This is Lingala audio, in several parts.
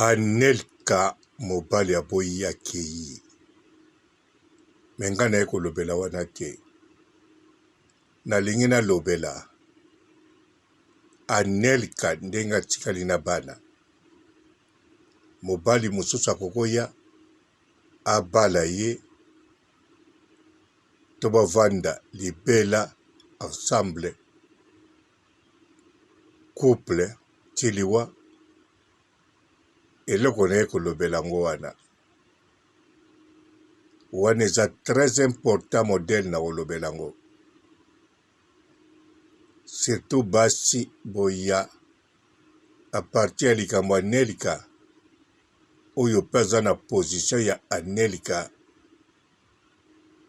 Anelka mobali aboyi akei me nga naye kolobela wana te nalingi nalobela anelka ndenge atikali na bana mobali mosusu akokoya abala ye to bavanda libela ensemble couple ti liwa eloko naye kolobela yango wana wana eza très important modèle na kolobela yango surtout basi boya à partir ya likambo ya Nelika oyo mpe aza na position ya Anelika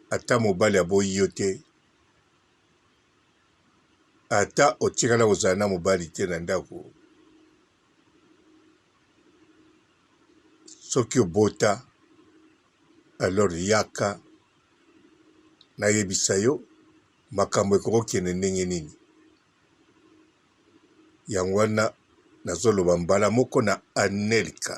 ata mobali aboyi yo te Ata otikala kozala na mobali te na ndako, soki obota alors yaka nayebisa yo makambo ekoki kokende ndenge nini. Yango wana nazoloba mbala moko na Anelka.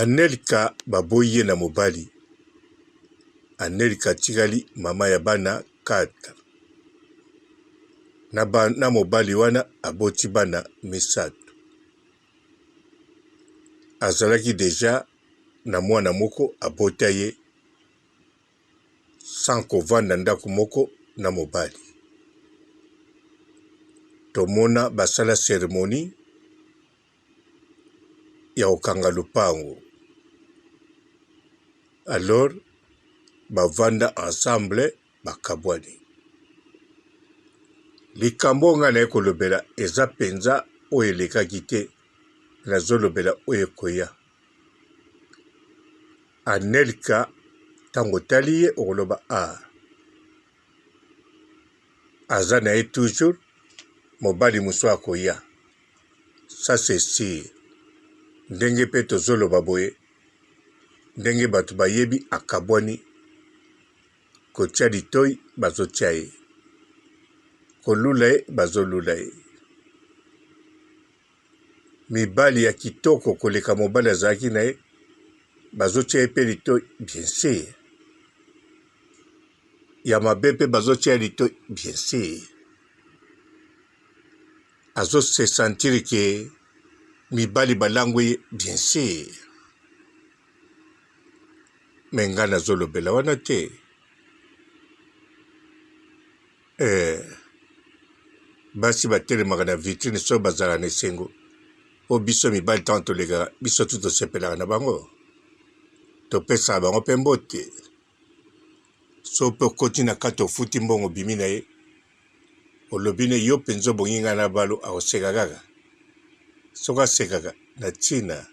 Anelka ba boyi ye na mobali, Anelka atikali mama ya bana quatre na mobali wana aboti bana misato. Azalaki deja na mwana moko abota ye sans ko vanda ndako moko na mobali. Tomona ba sala ceremonie. ya kokanga lopango alors bavanda ensemble bakabwani likambo oyo ngai naye kolobela eza mpenza oyo elekaki te nazolobela oyo ekoya anelka ntango otali ye okoloba a ah, aza na ye toujours mobali mosusu akoya Ça c'est sur. Ndenge pe tozo loba boye ndenge batu bayebi akabuani kotia litoyi bazo tia ye kolula ye bazo lula ye mibali ya kitoko koleka mobali azalaki na ye bazo tia ye pe litoyi bien sur ya mabe pe bazo tia ye litoyi bien sur Azo se sentir que mibali ba langwe ye bien sur mais nga nazo lobela wana te eh, basi batelemaka na vitrine soki bazalaka na esengo o biso mibali ntango tolekaka biso tu tosepelaka na bango topesaka bango mpe mbote so pe okoti na kati ofuti mbongo obimi na ye olobi ne yo mpenza obongi ngai na balo akoseka kaka soki asekaka na ntina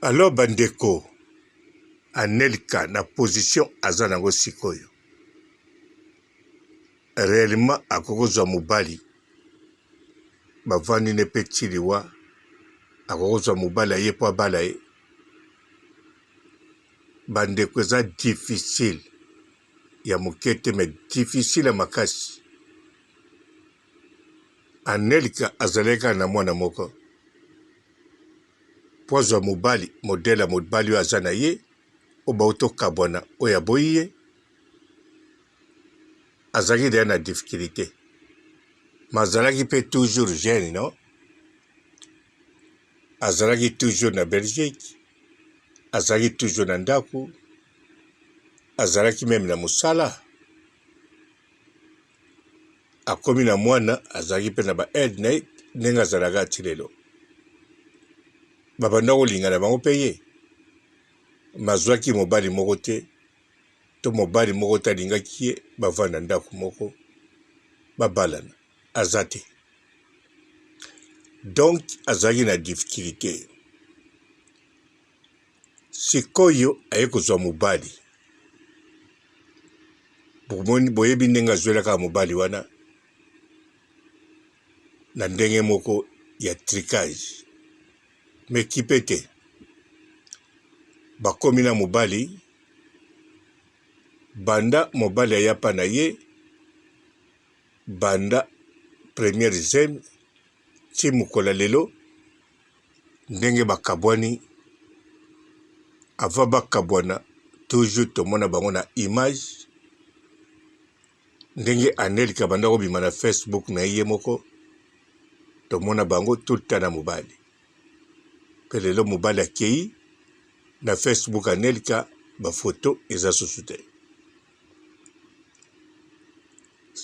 alors bandeko anelka na position aza nango sikoyo réellement akoki kozwa mobali bavandi ne mpe tiliwa akoki kozwa mobali aye mpo abala ye Ba ndeko eza difficile ya moke te mais difficile ya makasi. Anelka azalaki kaka na mwana moko mpo azwa mobali modele ya mobali oyo aza na ye oyo bauti okabwana oyo aboyi ye azalaki deya na difficulté mais azalaki mpe toujours jeune non azalaki toujours na Belgique azalaki toujours na ndako azalaki meme na mosala akomi na mwana azalaki mpe na ba aide na ye ndenge azalaka ti lelo babanda kolingana bango mpe ye mazwaki mobali moko te to mobali moko te alingaki ye bavanda ndako moko babalana aza te donc azalaki na difficulté sikoyo aye kozwa mobali boyebi ndenge azwelaka mobali wana na ndenge moko ya tricage me kipe te bakomi na mobali banda mobali ayapa na ye banda première zemi ti mokolo ya lelo ndenge bakabwani avant bakabwana toujours tomona bango na image ndenge anelka banda kobima na facebook na ye moko tomona bango tout le temps na mobali mpe lelo mobali akei na facebook anelka bafoto eza susu te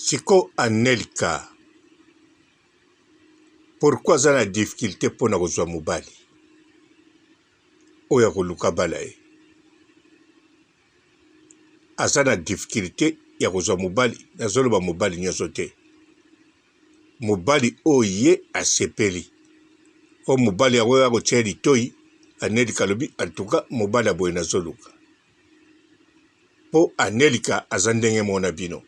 Siko anelka pourquoi aza na difficulte mpo na kozwa mobali oyo akoluka bala ye aza na difficulte ya kozwa mobali nazoloba mobali nyonso te mobali oyo ye asepeli oyo mobali yango oyo akotya litoi anelka alobi antuka mobali ya boye nazoluka Po anelka aza ndenge moko na bino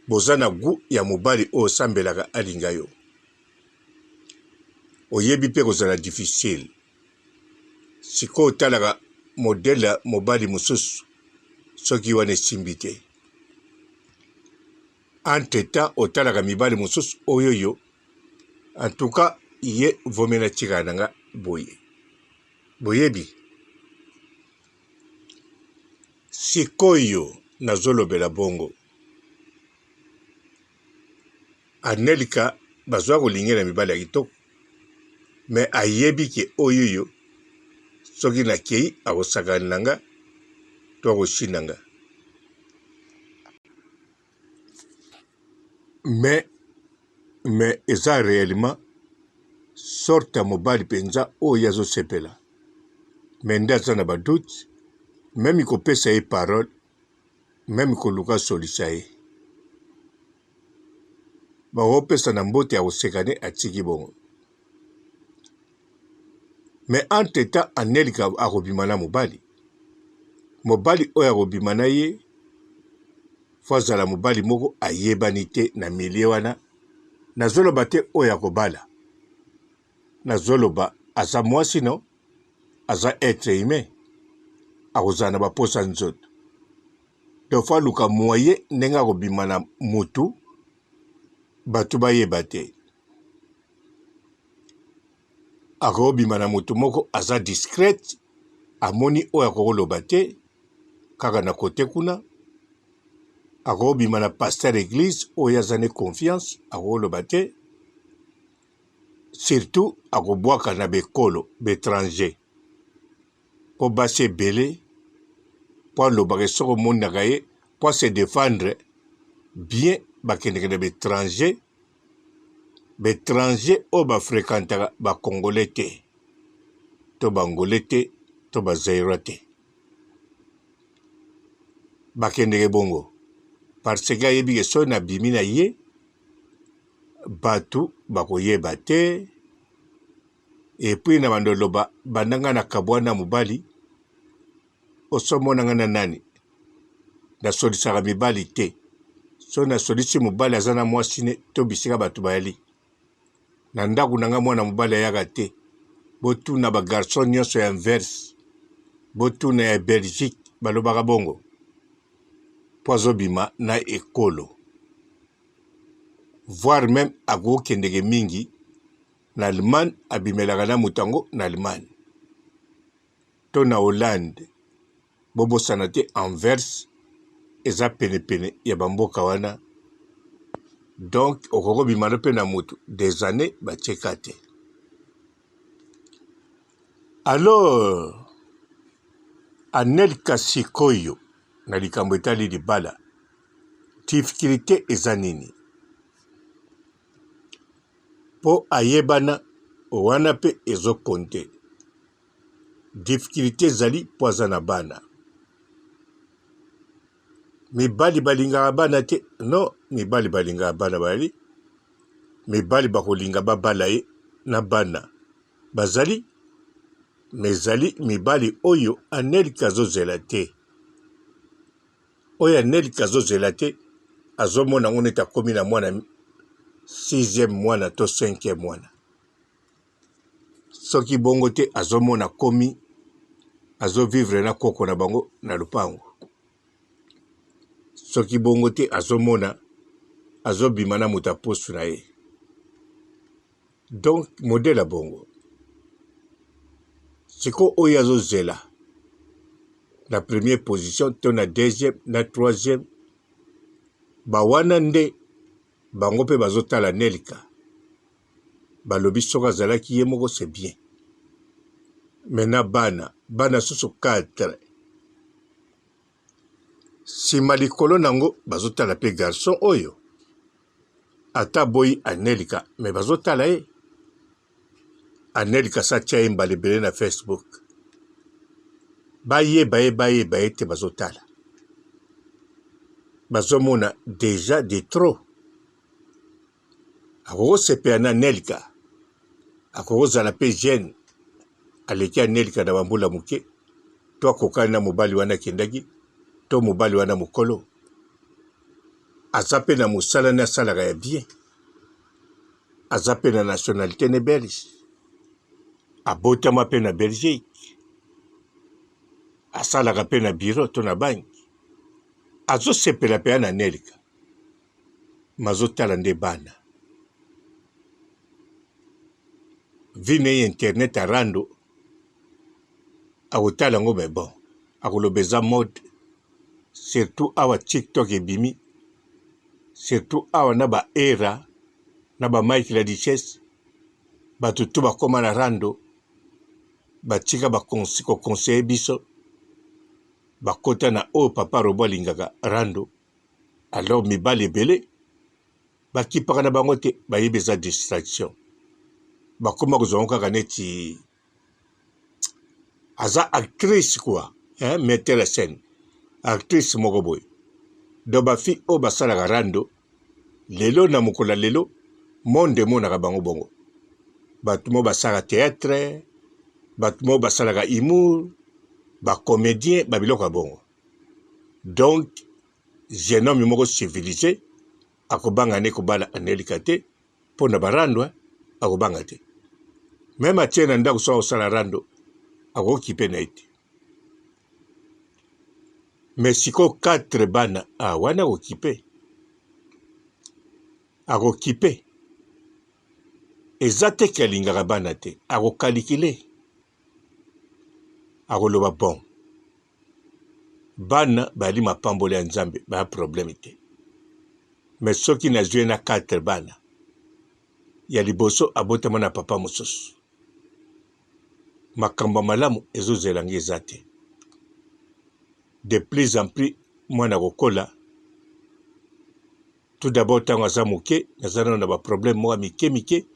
boza na gout ya mobali oyo osambelaka alinga yo oyebi pe kozala difficile sikoyo otalaka modele ya mobali mosusu soki wana esimbi te entre temps otalaka mibali mosusu oyoyo en tout cas ye vomi na tika na nga boye Boyebi, sikoyo nazolobela bongo, Anelka bazwa kolingela mibali ya kitoko, me ayebi ke oyoyo soki nakei akosakana na nga to akoshinda nga. mais mais eza reellement sorte ya mobali mpenza oyo ye azosepela me nde aza na badoute meme kopesa ye parole meme koluka solisa ye baopesa na mbote ya koseka nde atiki bongo mais entre temps anelka akobima na mobali mobali oyo akobima na ye fo azala mobali moko ayebani te na milie wana nazoloba te oyo akobala nazoloba aza mwasi no aza etre humain akozala na baposa nzoto donc fo aluka moye ndenge akobima na motu bato bayeba te Akobima na moto moko aza discrete amoni oyo akoloba te kaka na kote kuna akobima na pasteur eglise oyo aza ne confiance akoloba te surtout akobwaka na bekolo betranger po basi ebele po alobaka soki omonaka ye po se defendre bien bakendeke na betranger ba etranger oyo ba frequentaka ba congolais te to ba angolais te to ba zaïrois te bakendeke bongo parce que ayebi ke soki nabimi na ye bato bakoyeba te Epuis na banda oloba banda nga na kabuana mobali oso mona nga na nani? Na solisaka mibali te soki na solisi mobali aza na mwasi ne to bisika batu bayali na ndaku na nga mwana mobali ayaka te botuna ba garçon nionso ya inverse botuna ya Belgique balobaka bongo po azobima na ekolo voir meme akokendeke mingi na Allemagne abimelaka na moto yango na Allemagne to na Hollande. Bobosana te Anvers eza penepene ya bamboka wana, donc okoki kobima mpe na moto des années batie ka te. Alors Anelka sikoyo na likambo etali libala difficulté eza nini? po ayebana wana pe ezo compte difficulte ezali po aza na bana mibali balingaka bana te non mibali balingaka bana bazali mibali bakolinga babala ye na bana bazali mais ezali mibali oyo anelka azozela te. Oyo ya nelka azo zela te azo mona yango neti akomi na mwana sixième mwana to cinquième mwana soki bongo te azo mona komi azo vivre na koko na bango na lupango soki bongo te azo mona azo bima na moto ya poso na ye Donc modèle ya bongo siko oyo azo zela na première position to na deuxième na troisième ba wana nde bango mpe bazotala nelka balobi soki azalaki ye moko c'est bien mais na bana bana susu 4 sima likolo nango bazotala pe garçon oyo ata boyi anelika me bazotala ye anelika sa tia ye mbala ebele na facebook bayeba ye bayeba ye te bazotala bazomona deja de trop akokosepela na Nelka, akokozala pe jeune aleki ya Nelka na ba mbula muke, to akokani na mobali wana akendaki, to mobali wana mukolo aza pe na musala ne asalaka ya bien, aza pe na nationalite ne belge, abotama pe na Belgique, asalaka pe na bureau to na banki, azosepela penza na Nelka, mazo tala nde bana vie naye internet ya rando akotala yango mais bon akoloba eza mode surtout awa tiktok ebimi surtout awa na ba era na ba mike la richesse bato to bakoma na rando batika kokonseye biso bakota na oyo papa robo alingaka rando Alors mibali ebele bakipaka na bango te bayebi eza distraction bakoma kozwa yango kaka neti aza actrice kua eh, metteur ya scène actrice moko boye donc bafi oyo basalaka rando lelo na mokolo ya lelo monde emonaka bango bongo bato moo basalaka théâtre bato moo basalaka humour bacomédien babiloko ya bongo Donc jeune homme moko civilise akobanga ne kobala Anelika te mpo na barando eh? akobanga te meme atie na ndako soki akosala rando akokipe na ye te me sikoyo 4 bana a ah, wana akokipe akokipe eza te ke alingaka bana te akokalikile akoloba bon Bana bayali mapamboli ya Nzambe, baya problème te. Mais soki nazwi ye na quatre bana, ya liboso abotama na papa mosusu, makambo ya malamu ezozela ngai eza te. De plus en plus mwana akokola, Tout d'abord tango aza moke naza nano na ba problème moko ya mike mike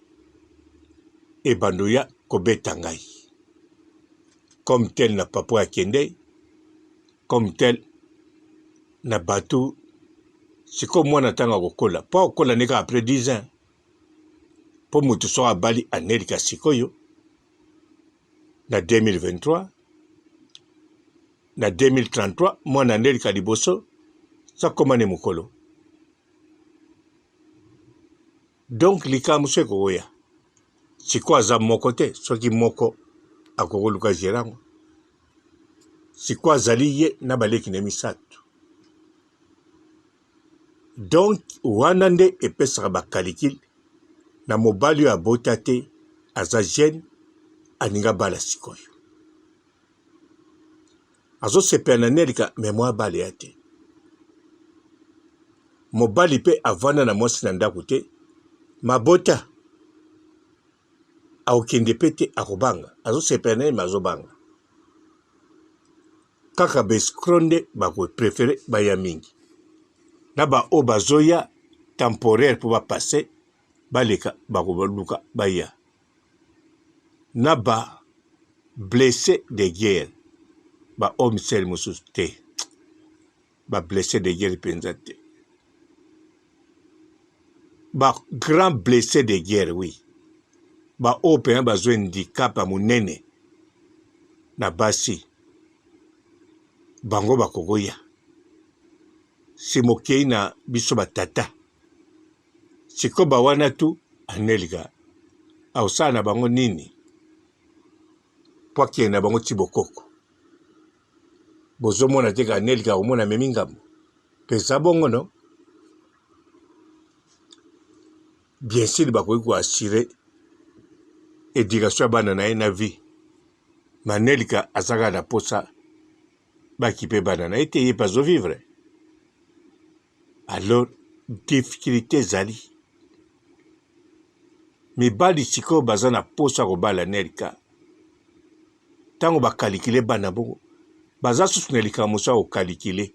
ebando ya kobeta ngai comme tel na papa ya kende comme tel na bato sikoyo mwana ntango akokola mpo akokola nde kaka après 10 ans mpo moto soki abali anelika sikoyo na 2023 na 2033 mwana nde lika liboso sakoma ne mokolo donc likambo so ekokoya sikoyo aza moko te soki moko akokoluka gere yango sikoyo azali ye na baleki na misato Donc wana nde epesaka ba calicule na mobali oyo abota te aza jeune alinga bala sikoyo azosepela na nelika me mwa abale ya te mobali mpe avanda na mwasi na ndako te mabota akokende mpe te akobanga azosepela na ye me azobanga kaka ba escro nde bako prefere baya mingi na ba oyo bazoya temporaire mpo ba passe baleka bakoluka baya na ba blesse de guerre ba oyo misele mosusu te. ba blesse de guerre mpenza te ba grand blesse de guerre oui baoyo mpenza bazwa handicap ya monene na basi bango bakokoya si mokei na biso batata sikoyo bawana tu anelga akosala na bango nini mpo akende na bango ti bokoko Bozo mona te ka Nelke ako mona amemi ngambo? Peza bongo non? Bien sur bakoki ko assurer education ya bana na ye na vie. Ma Nelka aza kaka na posa ba kipe bana na ye te, ye pe azo vivre. Alors difficultes ezali mibali sikoyo baza na posa kobala nerika ntango bakalikile bana bongo baza susu na likambo mosu akokalikile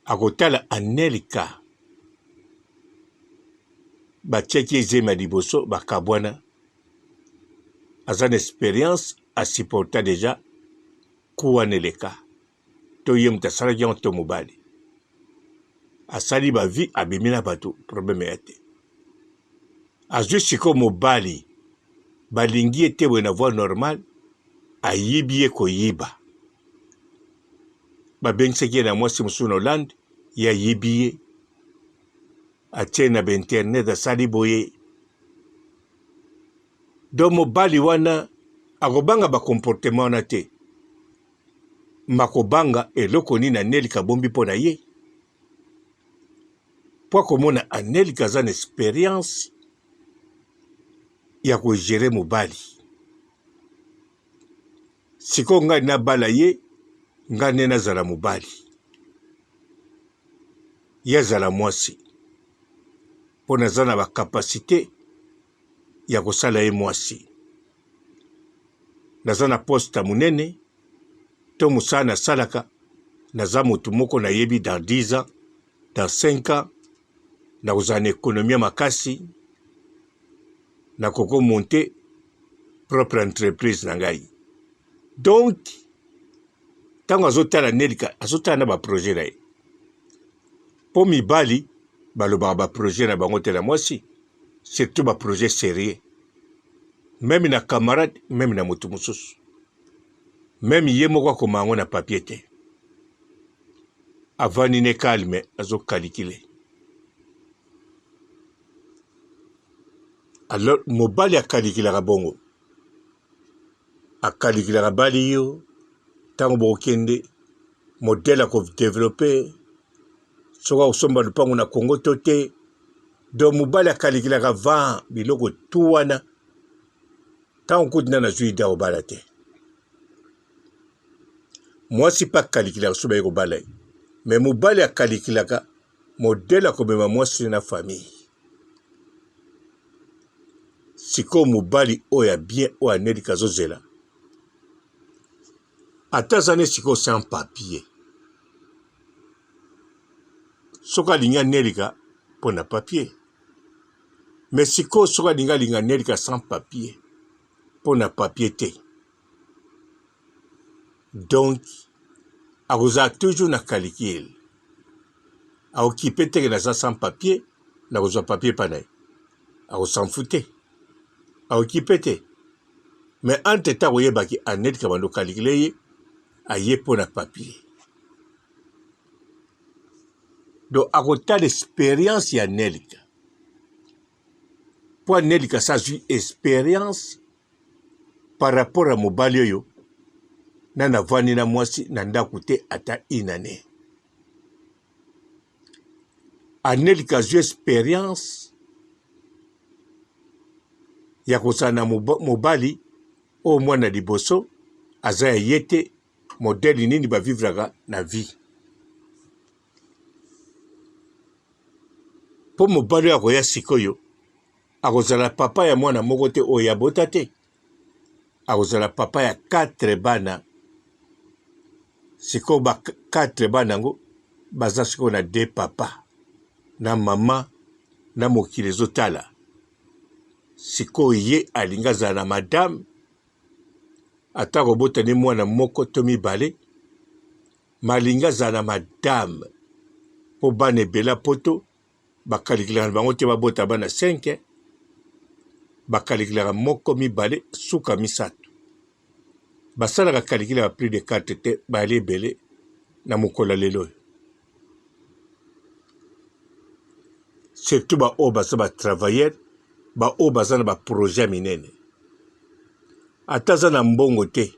akotala anelika batiaki ezemi ya liboso bakabwana aza na experience asupporta deja kuwa na eleka to ye moto asalaki yango to mobali asali ba vie abimi na bato problème ya te azwi sikoyo mobali balingi ye te boye na voie normale ayibi ye koyiba babengisaki ye na mwasi mosusu na hollande ye ayibi ye atie na bainternet asali boye do mobali wana akobanga bakomportema wana te Makobanga eloko nini anelika abombi mpo na ye mpo akomona anelika aza na experience ya kogere mobali sikoyo ngai nabala ye ngai nde nazala mobali ye azala mwasi mpo naza na bakapasite ya kosala ye mwasi. Naza na poste ya monene to mosala nasalaka, naza motu moko nayebi dans 10 ans, dans 5 ans nakozala na ekonomi ya makasi, nakoko monte propre entreprise na ngai. Donc ntango azotala Nelika azotala na baprojet na ye Po mibali balobaka ba projet na bango te na mwasi surtout ba projet serieux meme na camarade meme na mutu mususu meme ye moko akoma yango na papier te avandi ne calme azo calikile alors mobali akalikilaka bongo akalikila na bali yo ntango bokokende modele ya kodevelope soki akosomba lupango na kongo to te donc mobali akalikilaka va biloko tu wana ntango kutu nde nazwi ide akobala te mwasi mpe akalikilaka soki baye kobala ye me mobali akalikilaka Modèle ya komema mwasi na famille. Sikoyo mobali oyo ya bien oyo anelika azozela ata aza ne sikoyo sans papier soki alingi anelika mpo na papier me sikoyo soki alingi alinga anelika sans papier mpo na papier te donc akozala toujours na calicule akokipe teke naza sans papier nakozwa papier epai na ye akosanfu te akokipe te mais entre temps akoyebaki annette kabando calicule ye aye mpo na papier donc akotala experience ya nelika mpo nelika sa azwi experience par rapport ya mobali oyo na navandi na mwasi na ndako te ata une année anelika azwi experience ya kozala na mobali oyo mwana liboso aza ya ye te modele nini bavivraka na vie mpo mobali oyo akoya sikoyo Akozala papa ya mwana moko te oyo abota te. Akozala papa ya quatre bana. Sikoyo ba quatre bana yango baza sikoyo na de papa na mama na mokili ezotala. Sikoyo ye alingi azala na madame ata kobota nde mwana moko to mibale malingi azala na madame mpo bana ebela poto Bakalikilaka na bango te babota bana 5, bakalikilaka moko, mibale, suka misato. Basalaka kalikile ya plus de 4 te, bayali ebele na mokolo ya lelo oyo. Surtout ba oyo baza ba travailleurs, ba oyo baza na ba projets ya minene. Ata aza na mbongo te,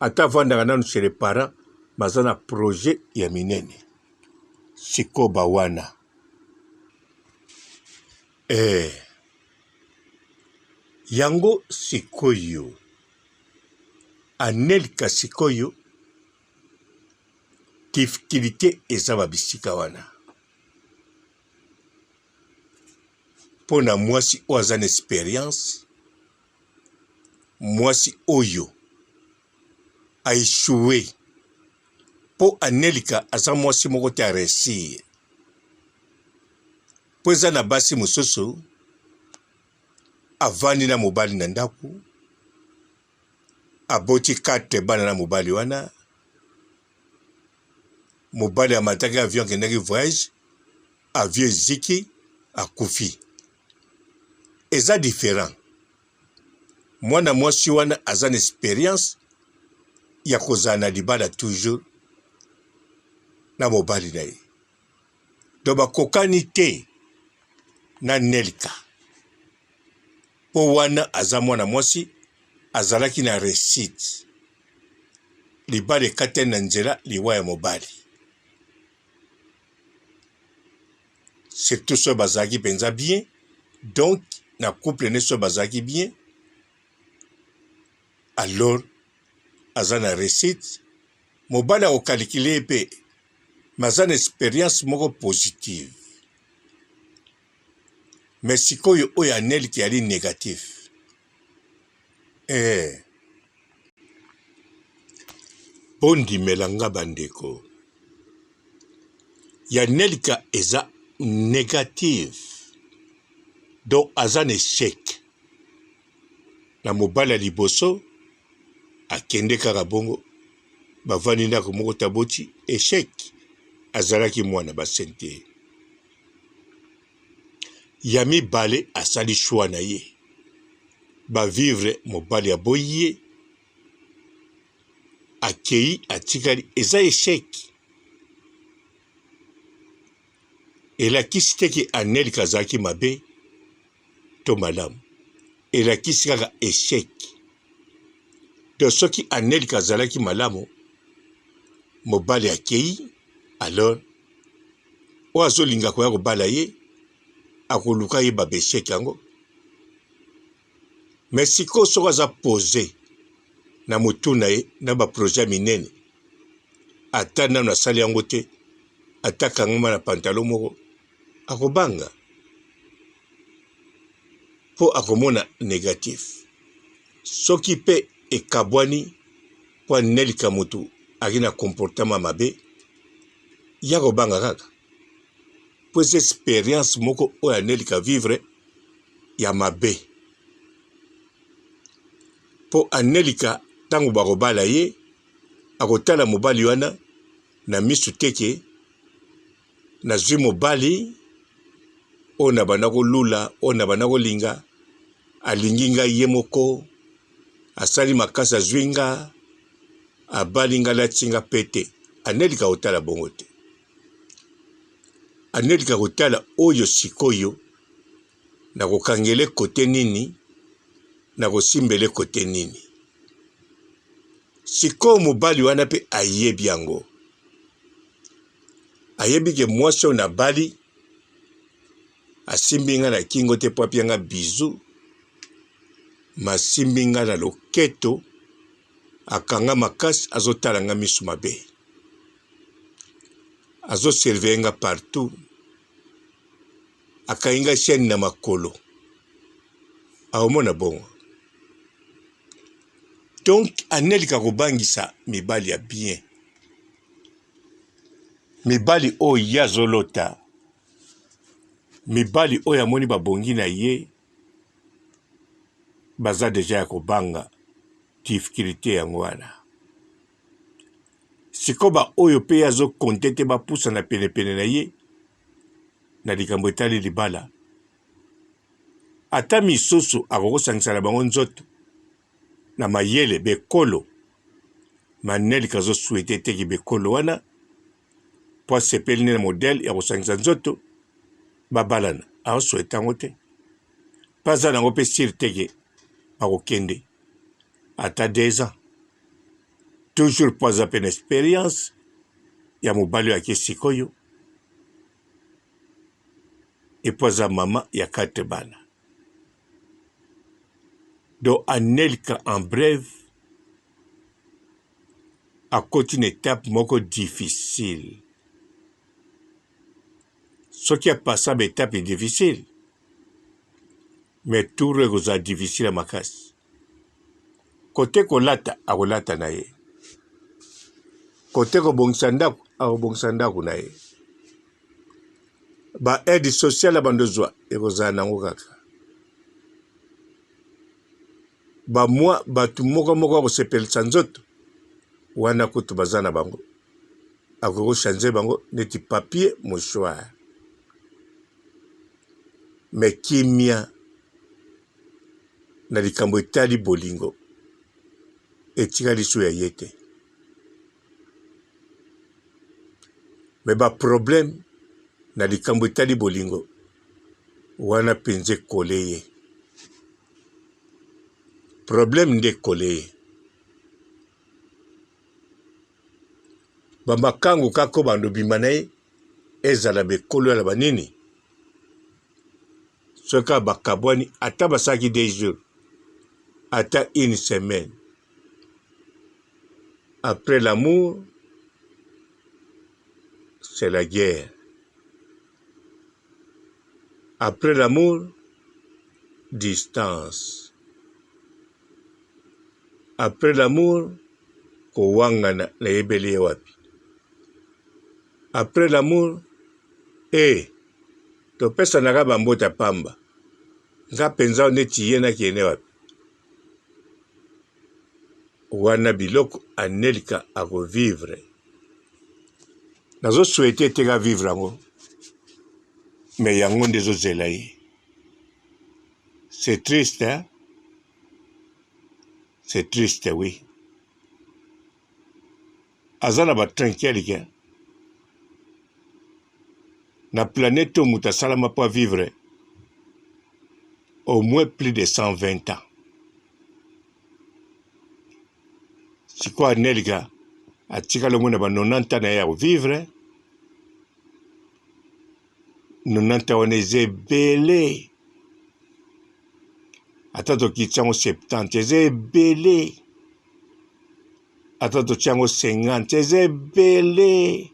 ata avandaka nanu chez les parents, mais aza na projet ya minene. Sikoba wana eh. Yango sikoyo Anelka sikoyo difficulté eza ba bisika wana mpo na mwasi oyo aza na experience mwasi oyo a echoue mpo anelika aza mwasi moko te aresir mpo eza na basi mosusu avandi na mobali na ndako aboti kate bana na mobali wana mobali amataki avion akendaki voyage avion eziki akufi eza différent Mwana mwasi wana aza na experience ya kozala na libala toujours na mobali na ye to bakokani te na nelka mpo wana aza mwana mwasi azalaki na resite libala ekatani na nzela liwa ya mobali surtout soki bazalaki mpenza bien donc na couple ne soki bazalaki bien alors aza na recite mobali akokalikile ye mpe me aza na experience moko positive me sikoyo oyo anelke yali negatif Ee, bondimela nga bandeko, ya Nelka eza negative, donc aza na echec na mobali ya liboso, akende kaka bongo, bavandi ndako moko te aboti, echec, azalaki mwana ba sente. ya mibale asali choix na ye ba vivre mobali ya boye akei atikali eza echec elakisi te ke anelka azalaki mabe to malamu elakisi kaka echec to soki anelka azalaki malamu mobali akei alors oyo azolinga koya kobala ye akoluka ye ba bechec yango me sikoyo soko aza pose na motu na ye na baprojet minene ata nano asali yango te ata kangama na pantalo moko akobanga mpo akomona negatif soki mpe ekabwani mpo anelika motu aki na comportema mabe ya kobanga kaka mpo eza experience moko oyo anelika vivre ya mabe mpo anelika ntango bakobala ye akotala mobali wana na misu teke nazwi mobali oyo nabanda kolula oyo nabanda kolinga alingi ngai ye moko Asali makasi azui nga abali nga alati nga pete anelika kotala bongo te anelika kotala oyo sikoyo nakokangele kote nini nakosimbele kote nini sikoyo mobali wana mpe ayebi yango ayebi ke mwasi oyo nabali asimbi nga na kingo te po apia nga bizu masimbi nga na loketo akanga makasi azotala nga misu mabe azoserveye nga partout akangi nga chaine na makolo aomona bongo donc anelika kobangisa mibali ya bien mibali oyo ye azolota Mibali oyo amoni babongi na ye baza deja ya kobanga difficulté yango wana siko baoyo mpe azokonte te bapusana penepene na ye na likambo etali libala ata misusu akokosangisa na bango nzoto na mayele bekolo manel kazo souhaite te ki bekolo wana po asepeli nde na modèle ya kosangisa nzoto babalana azo souhaite yango te pe aza nango pe sur te ke bakokende ata deux ans toujours po aza pe na experience ya mobali oyo ake sikoyo epo aza mama ya quatre bana Donc Anelka en breve akoti na etape moko difficile. Soki apasa ba etape difficile, mais tour ekozala difficile ya makasi. Kote kolata akolata na ye, kote kobongisa ndako akobongisa ndako na ye, ba aide sociale bandozwa ekozala nango kaka bamwa bato moko moko ya kosepelisa nzoto wana kutu baza na bango akoki kochange bango neti papier mouchoir me kimia na likambo etali bolingo etikali so ya ye te me baproblème na likambo etali bolingo wana mpenza ekole ye problème nde ekole ye bamakango kako bando bima na ye ezala bekolo ya na banini soki kaka bakabwani ata basalaki deux jours ata une semaine après l'amour c'est la guerre après l'amour distance après l'amour kowangana nayebeli ye wapi Après l'amour ee topesanaka ba mbote ya pamba nga penza neti ye na kende wapi wana biloko anelka ako vivre nazo souhaite te ka vivre yango mais yango nde ezozela ye c'est triste hein? c'est triste oui aza na ba trinquelike na planète oyo moto asalama mpo avivre au moins plus de 120 ans sikoyo anelika atikala ngo na ba 90 ans na ye ya kovivre 90 ans wana eza ebele ata tokitisa yango 70 eza ebele ata totia yango 50 eza ebele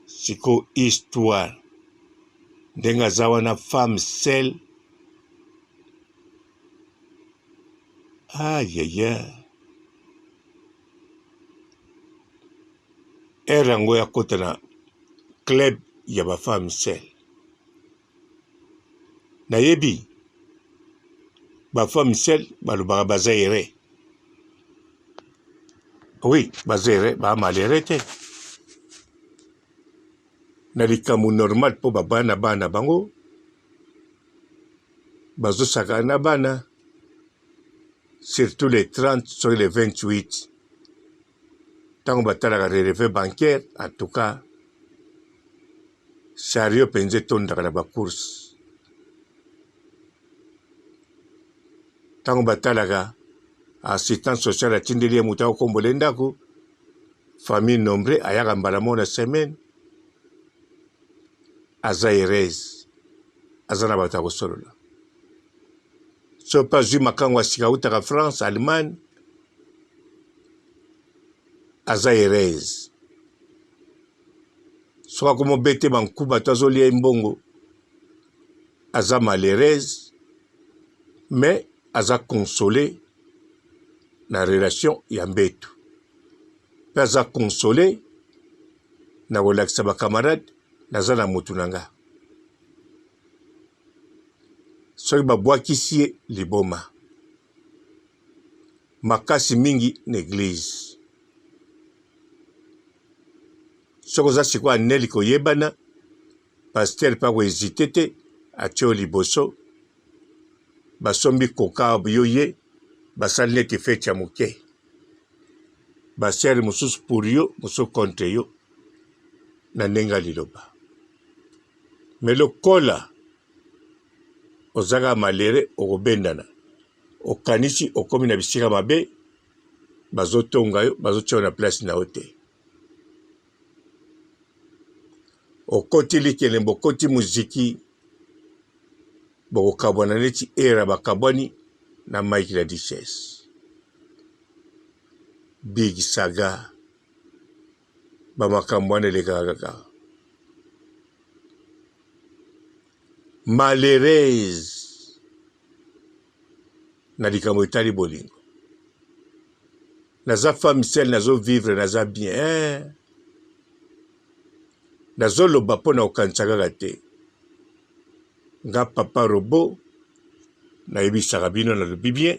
siko histoire ndenge aza wana femme sel ayaya ere yango yakota na club ya bafemme sel nayebi bafua michel balobaka baza ere oui baza ere baamalere te na likambo normal mpo babaya na bana na bango bazosakana na bana surtout les 30 soki les 28 tango batalaka releve bancaire en tout cas chariot mpenza etondaka na bacourse ntango batalaka assistance sociale atindeli ye moto akokombola ye ndako famille nombre ayaka mbala moko na semaine aza heureuse aza na bato ya kosolola Soki mpe azwi makango ya sika awutaka France, Allemagne, aza heureuse. Soki akomi obetema nku bato azolia ye mbongo, aza malheureuse, mais aza console na relation ya mbetu mpe aza console na kolakisa bakamarade naza na motu na nga. soki babwakisi ye liboma makasi mingi na eglize soki oza sikoyo aneli koyebana pastere mpe akoezite te atye yo liboso basombi koka yo ye basali neti feti ya moke basere mosusu pour yo mosusu contre yo na ndenge ya liloba mais lokola ozaka malere okobendana okanisi okomi na bisika mabe bazotonga yo bazotia na place na yo te okoti likelembo okoti muziki bokokabwana neti era bakabwani na mike la duchesse big saga ba makambo wana elekaka kaka malheureuse na likambo etali bolingo naza femme seule nazo vivre naza bien eh. nazoloba mpo na kokanisa kaka te nga papa robo nayebisaka bino nalobi bien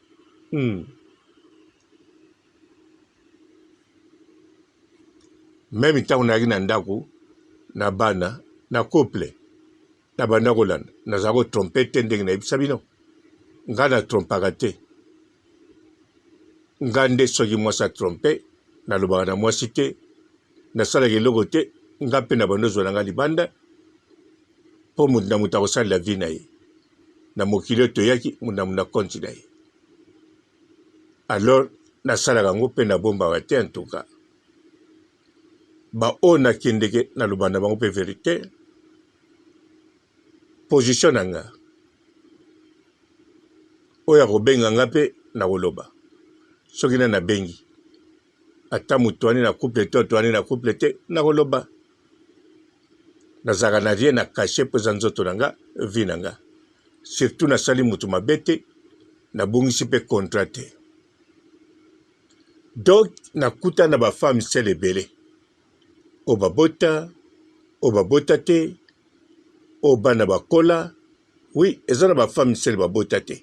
Hum meme ntango nayaki na ndako na bana na couple na banda kolanda nazala kotrompe te ndenge nayebisa bino ngai natrompaka te ngai nde soki mwasi atrompe nalobaka na mwasi te nasalaka eloko te ngai mpe na banda ozwa na ngai libanda mpo moto na moto akosalela vi na ye na mokili oyo toyaki na konti na ye alors nasalaka yango mpe nabombaka te antuka baoyo nakendeke naloba na bango mpe verite position na nga oyo akobenga nga mpe nakoloba soki na nabengi ata moto wani na couple te oto wani na couple te nakoloba nazalaka na rien na cache po eza nzoto na nga vie na nga surtout nasali mutu mabe te nabungisi pe contrat te donc nakuta na ba femme sel ebele oyo babota oyo babota te oyo bana bakola oui eza na ba femme sel babota te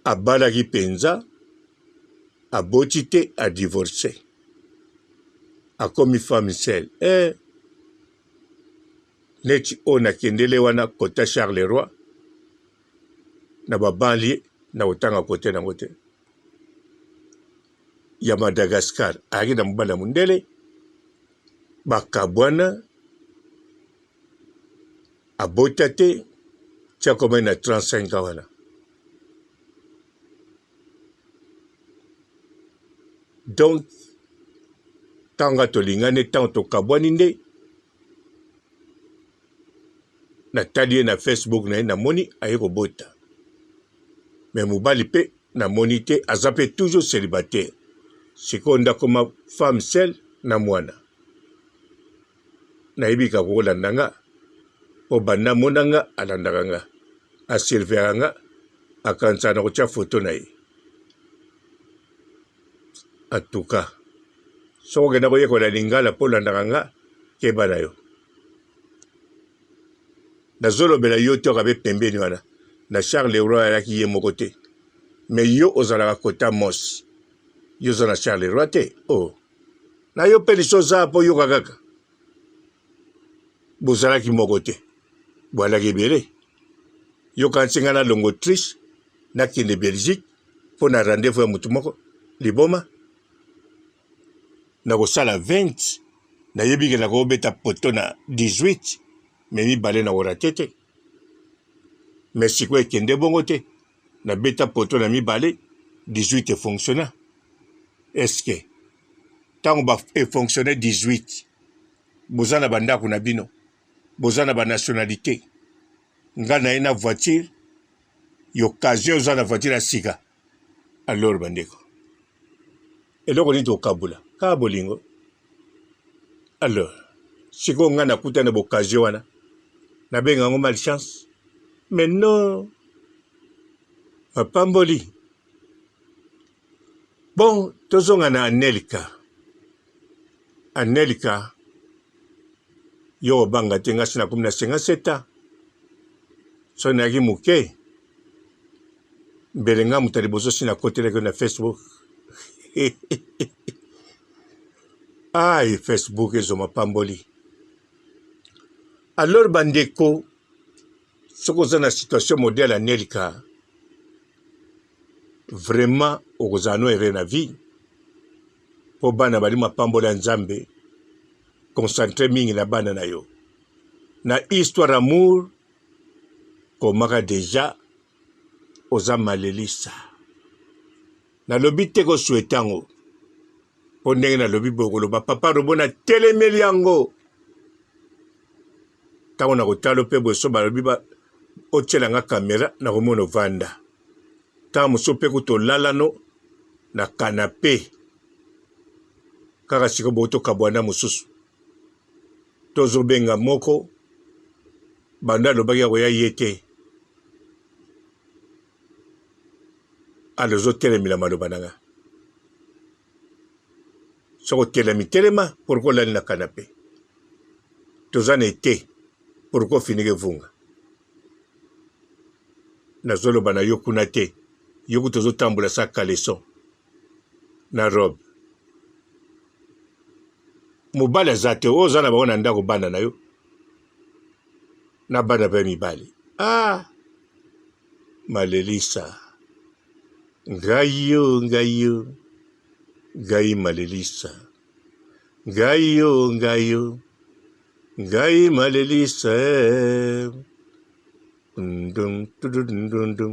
abalaki mpenza, aboti te, a divorce, akomi femme seule eh. Neti oyo nakendele wana kota Charleroi na babanlie na kotanga kote nango te ya Madagascar ayaki na mobali ya mondele bakabwana abota te ti akomaki na 35 ans wana donc ntango tolingani ntango tokabwani nde natali ye na facebook na ye namoni aye kobota me mobali mpe namoni te aza mpe toujours célibataire sikoyo ndakoma femme seule na mwana nayebi kaka kolanda nga o banda amona nga alandaka nga asurveillaka nga akanisaka na kotya foto na ye atuka soko okenda koyekola lingala mpo olandaka nga keba na yo nazolobela yo te okabe pembeni wana na charles leroy ayaki ye moko te me yo ozalaka kota mos yo oza na charles leroy te o oh. na yo mpe liso oza mpo yoka kaka bozalaki moko te bwalaki ebele yoka nsinga na longo triche nakende belgique mpo na rendez-vous ya motu moko liboma nakosala 20 nayebi ke nakobeta poto na 18 me mibale na orate te me sikoyo ekende bongo te na beta poto na mibale 18 e fonctionna est-ce que tango ba e fonctionne 18 boza na bandako na bino boza na ba nationalité nga na ye na voiture y'occasion oza na voiture ya sika alors bandeko eloko nini tokabola kaka bolingo alors sikoyo ngai nakuta na boccasion wana nabenga yango malchance mais non mapamboli bon tozonga na anelika anelika yo obanga te ngasi nakomi na 57 ans soki nayaki moke mbele nga moto ya liboso si nakotelaki yo na facebook ai facebook ezwa mapamboli alors bandeko soki oza na situation modele ya nelika vraiment okozala no ere na vie mpo bana bali mapamboli ya nzambe concentre mingi na bana na yo na histoire amour komaka deja oza malelisa nalobi te ko souhaite yango mpo ndenge nalobi boye koloba papa robo na telemeli yango ntango nakotalo mpe boso balobi ba, otyela nga kamera nakomona ovanda ntango mosusu mpe kutu olalano na kanape kaka sikoyo bokotokabwana mosusu Tozo benga moko banda alobaki akoya ye te azo telemela maloba na nga soki otelemi telema pourkoi olali na kanape toza na ete pourkoi ofiniki evunga nazoloba na yo kuna te yo kutu ozotambola sa caleson na robe mobali aza te oyo oza na bango na ndako bana na yo na bana mpe mibali ah malelisa ngai yo ngai yo ngai malelisa ngai yo ngai yo ngai malelisa eh. dum dum dum dum dum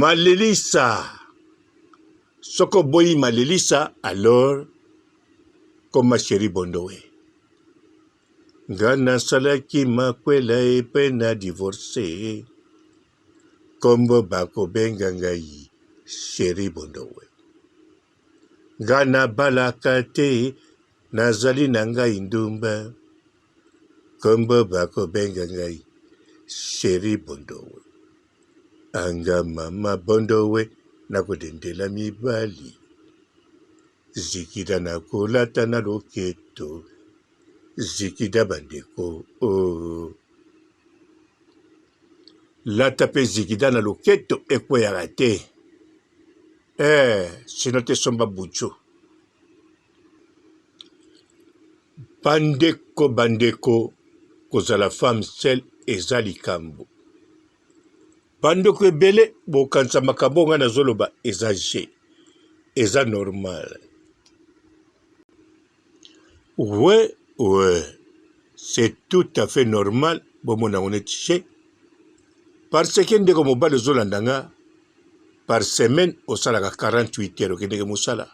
Malilisa. Soki oboyi malilisa, alors koma sheri bondowe nga nasalaki makwela epe na divorce kombo bakobenga ngai sheri bondowe nga nabalaka te nazali na ngai ndumba kombo bakobenga ngai sheri bondowe Anga mama bondowe na kodendela mibali zikida na kolata na loketo zikida bandeko oh. lata mpe zikida na loketo ekweyaka te eh, sino te somba bucho Bandeko bandeko kozala femme seule eza likambo bandeko ebele bokanisa makambo ngai nazoloba eza je eza normal we we c'est tout à fait normal bomona yango neti je parce que ndeko mobali ozolanda nga par semaine osalaka 48 heures okendeke mosala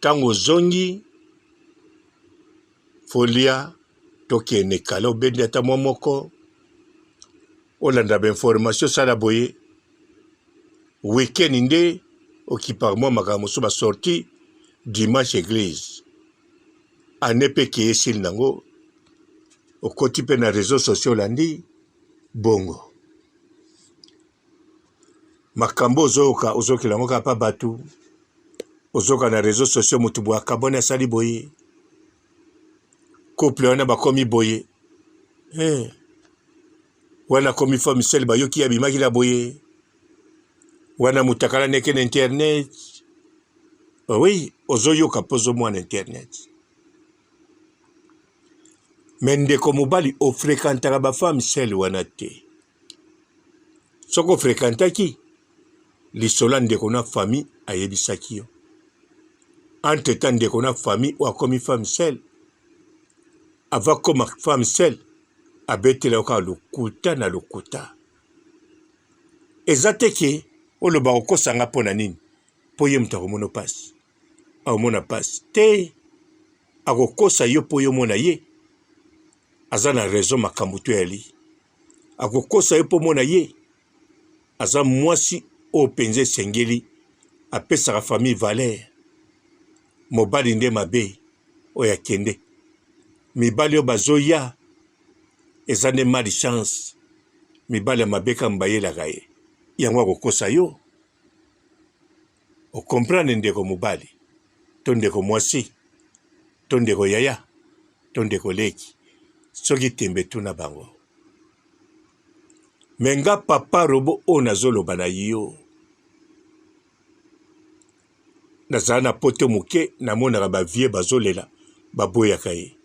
Tango ozongi folia tokende kala obendi ata mwa moko olanda ba information osala boye week-end nde okipaka mwa makambo mosusu ba sorti dimanche eglise ane mpe keye esili nango okoti mpe na réseau sociaux olandi bongo Makambo ozoyoka ozokela yango kaka pa batu ozoka na reseau sociaux mutu boye akabwani asali boye couple wana bakomi boye hey. Eh. wana akomi fo misele bayoki abimaki na boye wana moto akalani eke na internet oui ozoyoka mpo ozomwa na internet me ndeko mobali ofrekantaka bafame sele wana te soki ofrekantaki lisola ndeko na famille ayebisaki yo entre temps ndeko na famille oyo akomi femme sel ava koma femme sel abetela yo kaka lokuta na lokuta eza te ke oloba okosanga mpo na nini mpo ye moto akomona mpasi akomona mpasi te akokosa yo mpo yo omona ye aza na raison makambo to yali akokosa ye mpo mona ye aza mwasi oyo mpenza esengeli apesaka famille valeur mobali nde mabe oyo akende mibali oyo bazoya eza nde mali chance mibali ya mabe kaka bayelaka ye yango akokosa yo O comprendre ndeko mobali to ndeko mwasi to ndeko yaya to ndeko leki soki tembe tuna bango me nga papa robo oyo nazoloba na yo nazala na poto moke namonaka bavie bazolela baboyaka ye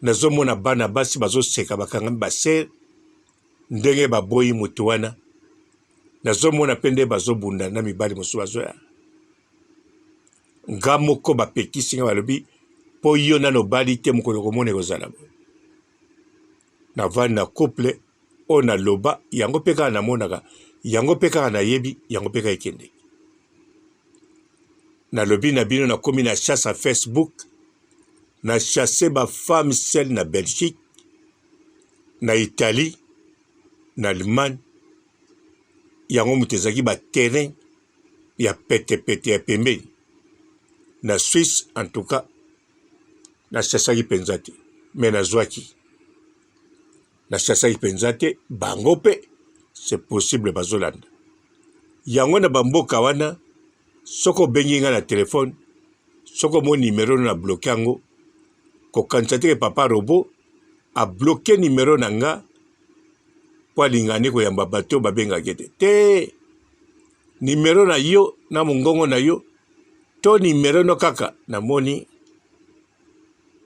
nazomona bana basi bazoseka bakangami basere ndenge baboyi moto wana Nazomona pe nde bazobunda na mibali mosusu bazoya nga moko bapekisi nga balobi po yo nano obali te mokolo okomona ekozala boye navandi na couple oyo naloba yango mpe kaka namonaka yango mpe kaka nayebi yango mpe kaka ekendeki nalobi na bino nakomi na chasse ya facebook na chasse bafemme sel na belgique na italie na Allemagne, yango moto ezalaki ba terrain ya pete pete ya pembeni. Na Suisse en tout cas na sasaki penza te mais nazwaki na sasaki penza te bango pe c'est possible bazolanda yango na bamboka wana soki obengi ngai na telefone soki omoni nimero na bloke yango kokanisa te ke papa robo a bloquer numero na nga mpo alinga nde koyamba bato babengaka ye te te nimero na yo na mongongo na yo to nimero no kaka namoni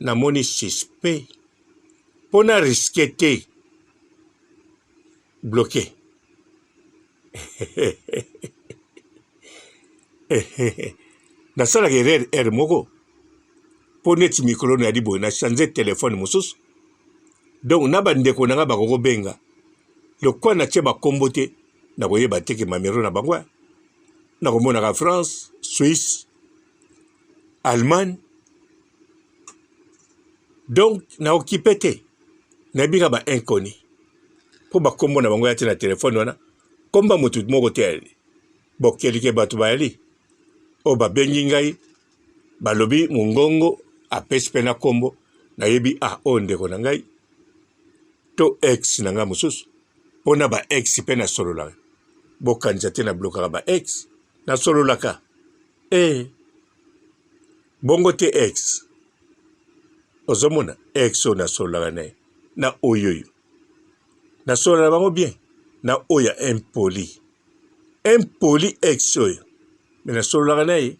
namoni suspect mpo na riske te bloquer nasalaka erreur heure moko mpo neti mikolo nayali boye na change telefone mosusu donc na bandeko na ngai bakokobenga lokwa natye bakombo te nakoyeba te ke mamero na bango nakomonaka france suisse allemagne donc na okipe te nayebi kaka ba inconi mpo bakombo na bango ya te na telefone wana komba motu moko te yali bokelike bato bayali oyo babengi ngai balobi mongongo apesi mpe na kombo nayebi a ah, oyo ndeko na ngai to ex na ngai mosusu mpo na ba ex mpe nasololaka bokanisa te na blokaka ba ex nasololaka ee eh. Bongo te ex. Ozomona ex oyo nasololaka na ye na oyoyo. Nasolola na bango bien na oyo ya impoli. Impoli ex oyo. Me nasololaka na ye.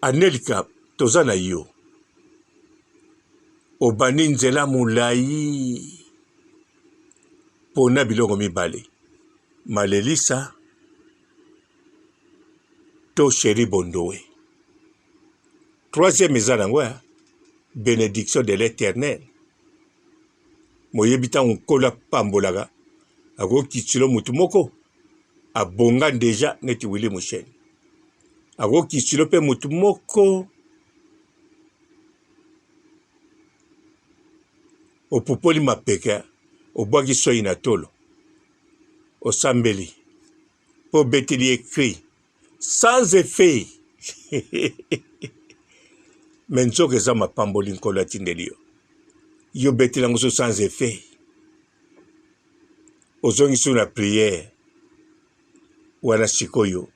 Anelka toza na yo. obandi nzela molai pona biloko mibale malelisa to cheri bondowe troisième eza nango ya benediction de l'éternel moyebi ntango nkolo apambolaka akokitilo motu moko abonga deja neti wili mosheni akokitilo mpe motu moko opupoli mapeka obwaki soyi na tolo osambeli mpo obeteli ye cri sans effet me nzoka eza mapamboli nkolo atindeli yo yo obeteli yango so sans effet ozongisi na priere wana sikoyo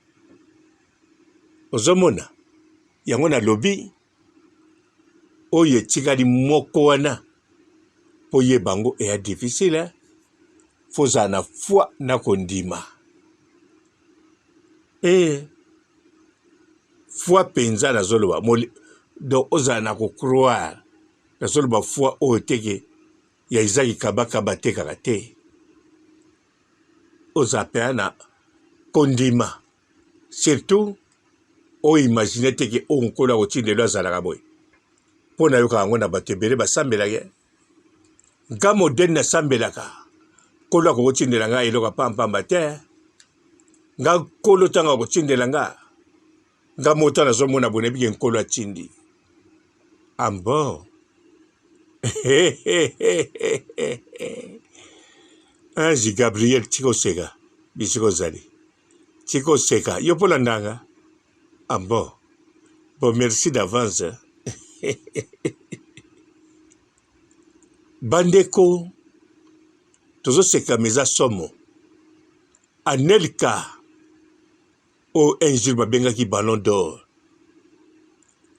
ozomona yango nalobi oyo etikali moko wana mpo yeba yango eya difficile fo ozala na foi na kondima e eh, foi mpenza nazoloba donc ozala na kocroire nazoloba foi oyo teke ya izaki kabakaba te kaka te ozala mpenza na kondima Surtout o imaginer te ke oyo nkolo akotii lelo azalaka boye. Po nayoka yango na bato ebele basambelaka ye. Nga modèle nasambelaka, nkolo akoki kotindela nga eloko ya pamba pamba te. Nga nkolo tango akotindela nga, nga moko ta nazomona boye nayebi ke nkolo atindi. Ah bon? Ange Gabriel tika oseka, bisika ozali. Tika oseka yo mpo landanga ambo ah, bo merci d'avance bandeko tozoseka meza somo anelka oyo un jour babengaki ballon d'or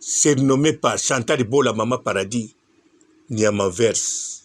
surnommé par chantal bola mama paradis niamaverse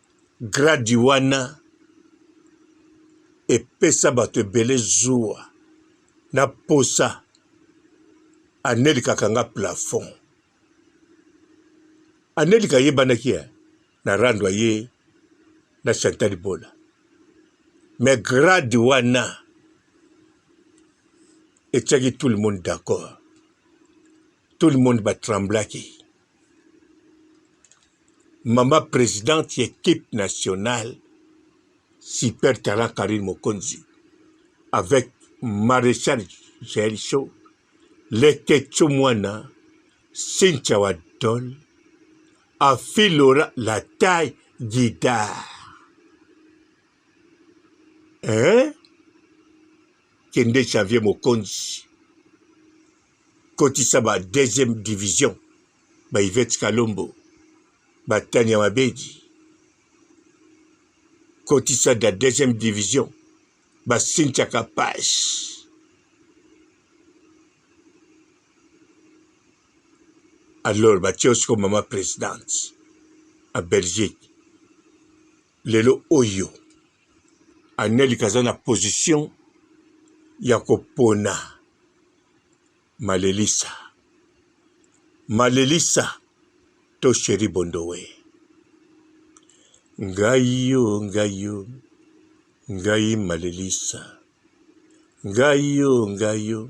Gradi wana epesa bato ebele zuwa na posa anelikaka nga plafond anelika ayebanaki ya na rando aye na chantal bola me grade wana etyaki tout le monde d'accord Tout le monde ba tremblaki. Maman presidente ya equipe nationale super talent Carine Mokonzi avec Marechal Jael Show, Leketchou Mwana, Cynthia Wadol, Afi Laura la taille guidard. eh? kende Xavier Mokonzi kotisa ba deuxième division ba Yvette Kalombo ba Tania Mabedi kotisa da deuxième division ba Cynthia Kapash alors batie osi ko mama présidente a Belgique Lelo oyo Anelka aza na position ya kopona Malelisa, Malelisa to Cherie Bondowe. Ngai yo, ngai yo, ngai Malelisa, ngai yo, ngai yo.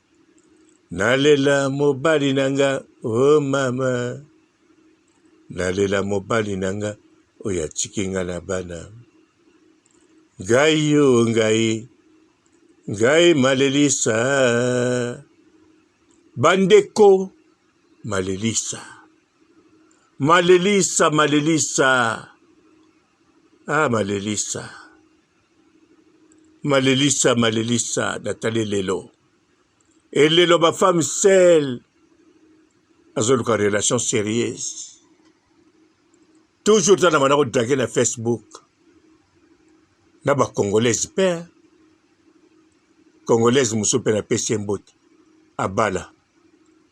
Nalela mobali na nga oh mama Nalela mobali na nga oyo atiki nga na bana Ngai yo oh, ngai Ngai malelisa Bandeko malelisa Malelisa malelisa Ah malelisa malelisa malelisa natali lelo elelo bafemme sel azoluka relation sérieuse toujours tana bana kodrake na facebook na bacongolaise mpe congolaise mosusu mpe napesi ye mbote abala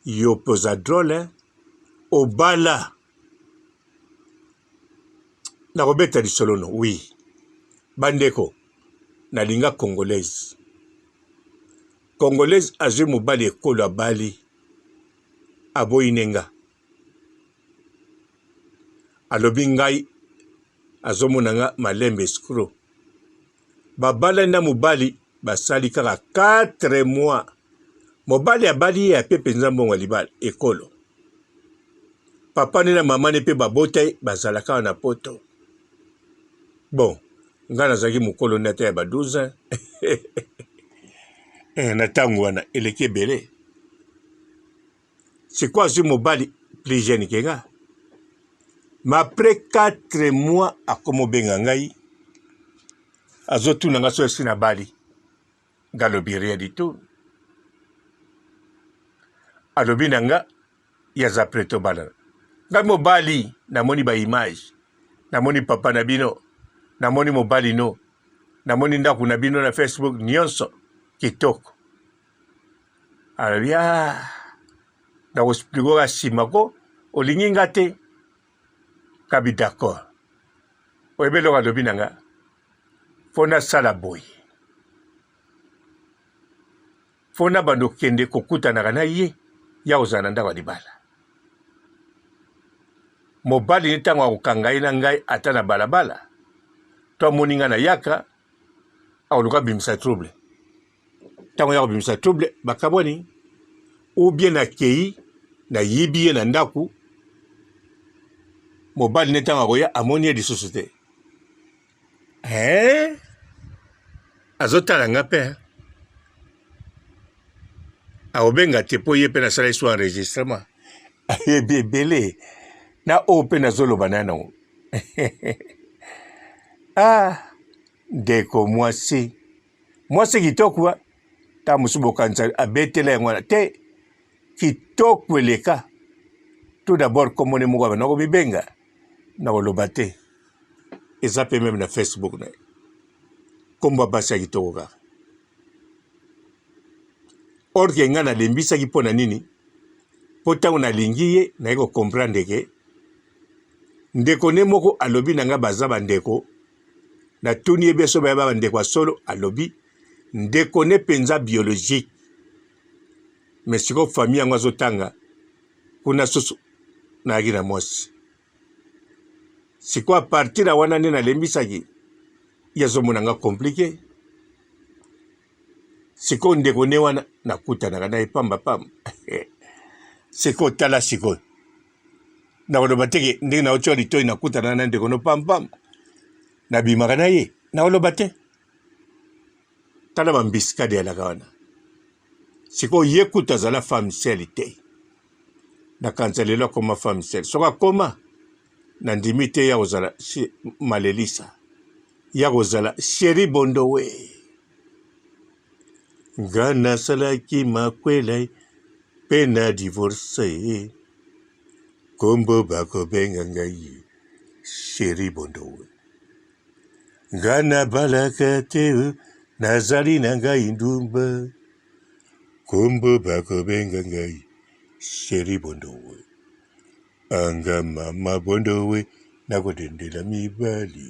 yo mpe oza drole obala nakobeta lisolo no wi bandeko nalinga congolaise congolaise azwi mobali ekolo abali aboyi ne nga alobi ngai azomona nga malembe escro Babalani na mobali basali kaka 4 mois, mobali abali ye ape mpenza mbongo ya libala ekolo. Papa ne na mama ne mpe babota ye bazalaka awa na poto. Bon, ngai nazalaki mokolo nde ata ya ba 12 ans eh, na ntango wana eleki ebele. sikoyo azwi mobali plus jeune ke nga ma après 4 mois akomobenga ngai azotuna nga so esi na bali nga alobi rien du tout alobi na nga ye aza pre tobalana ngai mobali namoni baimage namoni papa na bino namoni mobali no namoni ndako na bino na facebook nyonso kitoko alobi ah, na koexplike oka nsima ko olingi nga te kabi d'accord oyebi eloko alobi na nga mpo nasala boye mpo na bando kende kokutanaka na ye ya kozala na ndako ya libala mobali ne ntango akokanga ye na ngai ata na balabala to amoni ngai na yaka akoluka bimisa trouble ntango ya kobimisa trouble bakabwani ou bien nakei nayibi ye na ndako mobali ne ntango akoya amoni ye lisusu te ee eh? azotala nga mpe akobenga te mpo ye mpe nasala esu enregistrement ayebi ebele na oyo mpe nazoloba na yango ah ndeko mwasi mwasi kitoko wa ta mosu bokanisa abetela yango wana te kitoko eleka tout d'abord komone moko abana komibenga na koloba te eza mpe meme na facebook na ye nkombo ya basi ya kitoko kaka orke ngai nalembisaki mpo na nini mpo ntango nalingi ye naye kocomprendre ke ndeko ne moko alobi na ngai baza bandeko Natuni ye bien soki bayeba bandeko ya solo, alobi ndeko ne penza biologique. Mais sikoyo famille yango azotanga kuna susu nayaki na mwasi sikoyo a partir ya wana nde nalembisaki ye azomona nga komplike sikoyo ndeko ne wana nakutanaka na ye pambapamba sikoyo tala sikoyo nakoloba te ke ndenge naotyola litoi nakutana na ndeko no pampam nabimaka na ye nakoloba te tala bambisikade yalaka wana sikoyo ye kutu azala femme sele te nakanisa lelo akoma femme sele soki akoma nandimi te ya kozala malelisa ya kozala sheri bondowe nga nasalaki makwela mpe na divorce kombo bakobenga ngai sheri bondo nga nabalaka te nazali na ngai ndumba kombo bakobenga ngai sheri bondo anga mama bondo we nakotendela mibali